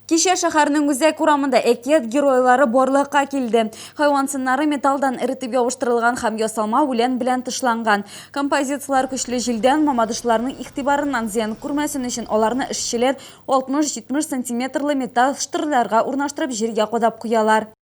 Кичә шәһәрнең үзәк урамында әкият геройлары барлыкка килде. Хайван сыннары металлдан эретеп ябыштырылган һәм ясалма үлән белән тышланган. Композицияләр көчле җилдән мамадышларның игътибарыннан зыян күрмәсен өчен аларны эшчеләр 60-70 сантиметрлы металл штырьләргә урнаштырып җиргә кадап куялар.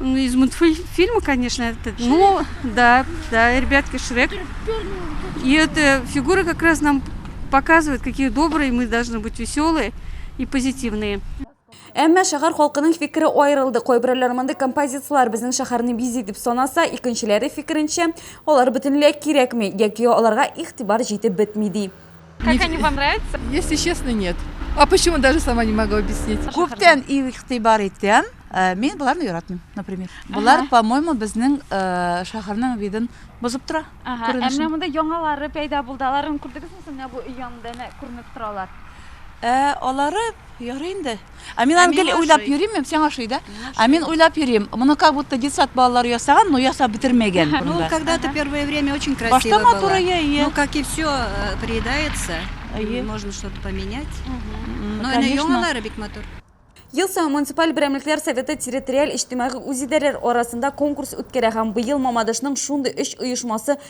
Ну, из мультфильма, конечно, этот. Шрек. Ну, да, да, ребятки, Шрек. И эта фигура как раз нам показывает, какие добрые мы должны быть веселые и позитивные. Әмма шәһәр халкының фикере аерылды. Кайберәүләр мондый композицияләр безнең шәһәрне бизи дип санаса, икенчеләре фикеренчә, алар бөтенләй кирәкми яки аларга игътибар җитеп бетми ди. Как Не- они вам нравятся? Если честно, нет. А почему даже сама не могу объяснить. Күптән игътибар итәм. Э, Мин боларны яратмыйм, например. Болар, Ага. по-моему, безнең э, шәһәрнең видын бозып тора. Ага, ә Күренешен. менә монда яңалары пәйда булды. Аларын күрдегезме соң? Менә бу өй янында менә күренеп торалар. Ә алары ярый инде. Ә мин аны гел уйлап йөрим, мин сиңа ошый да? Ә мин уйлап йөрим, моны как будто детсад балалары ясаган, но ясап бетермәгән. Ну, когда-то первое время очень красиво было. Башта матур, әйе, әйе. Ну, как и все э, приедается, можно что-то поменять. Но она яңалары бик матур. Ел саен муниципаль берәмлекләр советы территориаль иҗтимагый үзидарәләр арасында конкурс үткәрә һәм быел Мамадышның шундый өч оешмасы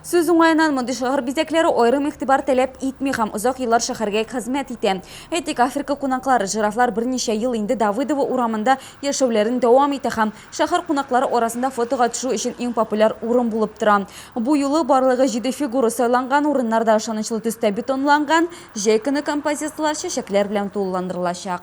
Сүз уңаеннан, мондый шәһәр бизәкләре аерым игътибар таләп итми һәм озак еллар шәһәргә хезмәт итә. Әйтик, Африка кунаклары, жирафлар берничә ел инде Давыдово урамында яшәүләрен дәвам итә һәм шәһәр кунаклары арасында фотога төшү өчен иң популяр урын булып тора. Бу юлы барлыгы җиде фигура сайланган, урыннар да ышанычлы төстә бетонланган. Җәй көне композицияләр чәчәкләр белән тулыландырылачак.